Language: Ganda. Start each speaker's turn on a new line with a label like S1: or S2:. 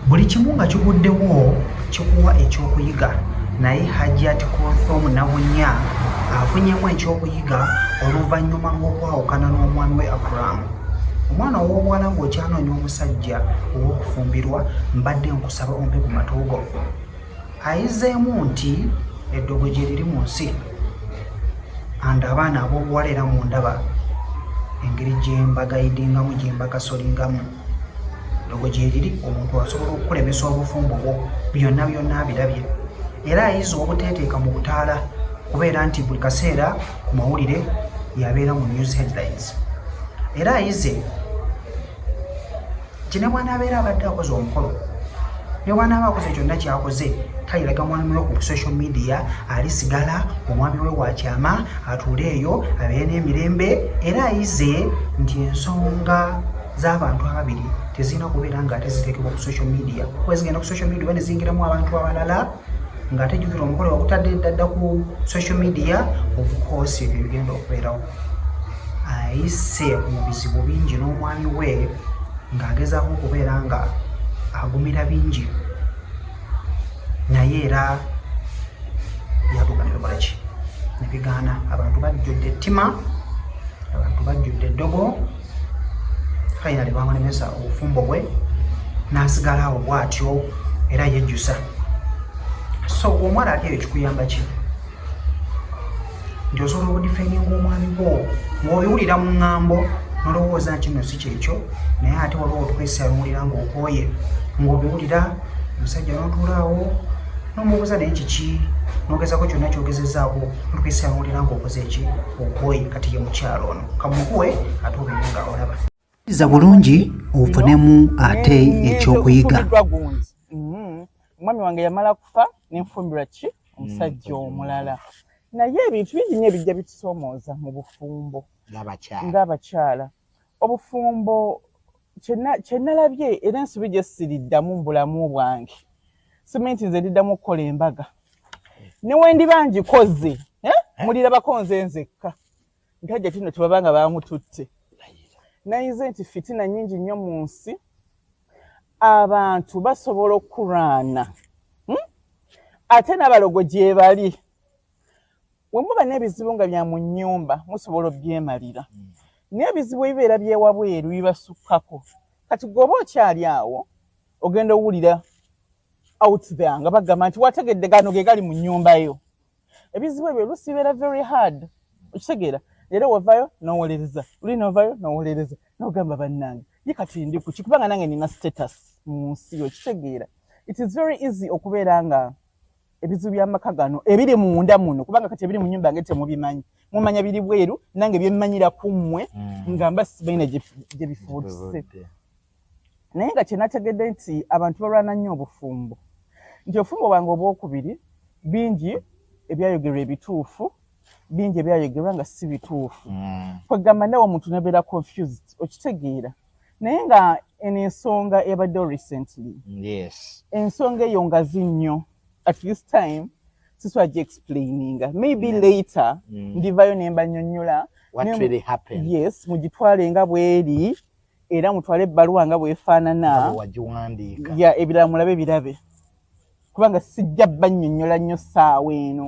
S1: buli kimu nga kiguddewo kikuwa ekyokuyiga naye hajjat kothom nabunya afunyemu ekyokuyiga oluvannyuma ng'okwawukana n'omwami we abrahamu omwana ow'obuwala ng'okyanoonya omusajja ow'okufumbirwa mbadde nkusaba ompe ku matuugo ayizeemu nti eddogo gye liri mu nsi and abaana ab'obuwala era mu ndaba engeri gyembagayidingamu gyembakasolingamu logo gyeriri omuntu asobola okukulemesa obufumbo bwo byonna byonna abirabye era ayiza obuteeteeka mu butaala kubeera nti buli kaseera ku mawulire yabeera mu news headlines era ayize kinebwanaabeera abadde akoze omukolo nebwanaaba akoze kyonna kyakoze tayiraga mwami we ku social media ali sigala omwami we wakyama atuule eyo abeere n'emirembe era ayize nti ensonga z'abantu ababiri tezirina kubeera nga ate ziteekebwa ku social media kuba zigenda ku social media oba ne ziyingiramu abantu abalala ng'ate jukira omukolo wakutadde ddadda ku social media of course ebyo bigenda okubeerawo ayise mu bizibu bingi n'omwami we ng'agezaako okubeera nga agumira bingi naye era yatuuka nebikolaki ki nebigaana abantu bajjudde ettima abantu bajjudde eddogo finally bamulemesa obufumbo bwe n'asigala awo bw'atyo era yejjusa so omwana ati eyo kikuyamba ki nti osobola okudifendinga omwami gwo ng'obiwulira mu ŋŋambo nolowooza nti no si kyekyo naye ate waliwo otukwesa biwulira ng'okooye ng'obiwulira omusajja notuulaawo nomubuuza naye kiki nogezako kyonna kyogezezaako otukwesa biwulira ng'okoze eki okooye kati ye mukyalo ono kamukuwe ate obiyunga olaba iza bulungi ofunemu ate ekyokuyiga
S2: mm-hmm. omwami wange yamala kufa nenfumbirwa ki omusajja mm-hmm. omulala naye ebintu bingi nyo ebijja bitusomooza mu bufumbo ngaabakyala obufumbo kyenalabye era ensobi gyesiriddamu mu bulamu bwange simanyi nti nze ndiddamu okukola embaga newendiba ngikoze eh? mulirabako nze nzekka nga hajjati no tebaba nga bamututte nayize nti fitina nyingi nnyo mu nsi abantu basobola okulwana hmm? ate n'abalogo gyebali wemuba n'ebizibu nga bya mu nnyumba musobola obyemalira hmm. naye ebizibu ebibeera byewabweru bibasukkako kati gweoba okyali awo ogenda owulira out there nga bagamba nti wategedde gano ge gali mu nnyumba yo ebizibu ebyo olusi bibeera very hard okitegeera leero wavayo nowolereza luli novayo nowolereza nogamba bannange ye kati ndi kuki kubanga nange nina status mu nsi okitegeera it is very easy okubeera nga ebizibu byamaka gano ebiri munda muno kubanga kati ebiri mu nyumba yange temubimanyi mumanya biri bweru nange byemmanyira ku mmwe mm. nga mba sibalina gye bifutuse naye nga kyenategedde nti abantu balwana nnyo obufumbo nti obufumbo bwange obwokubiri bingi ebyayogerwa ebituufu bingi ebyayogerwa nga si bituufu mm. kwegamba nawe omuntu nebeera confused okitegeera naye nga eno ensonga ebaddewo recently yes. ensonga eyo ngazi nnyo at this time siswa gi explaininga maybe mm. later mm. ndivayo nemba nyonyola
S3: yes mugitwale
S2: nga bweri era mutwale ebbaluwa nga bwefaanana ya ebirala mulabe birabe
S3: kubanga
S2: sijja bannyonnyola nnyo ssaawa eno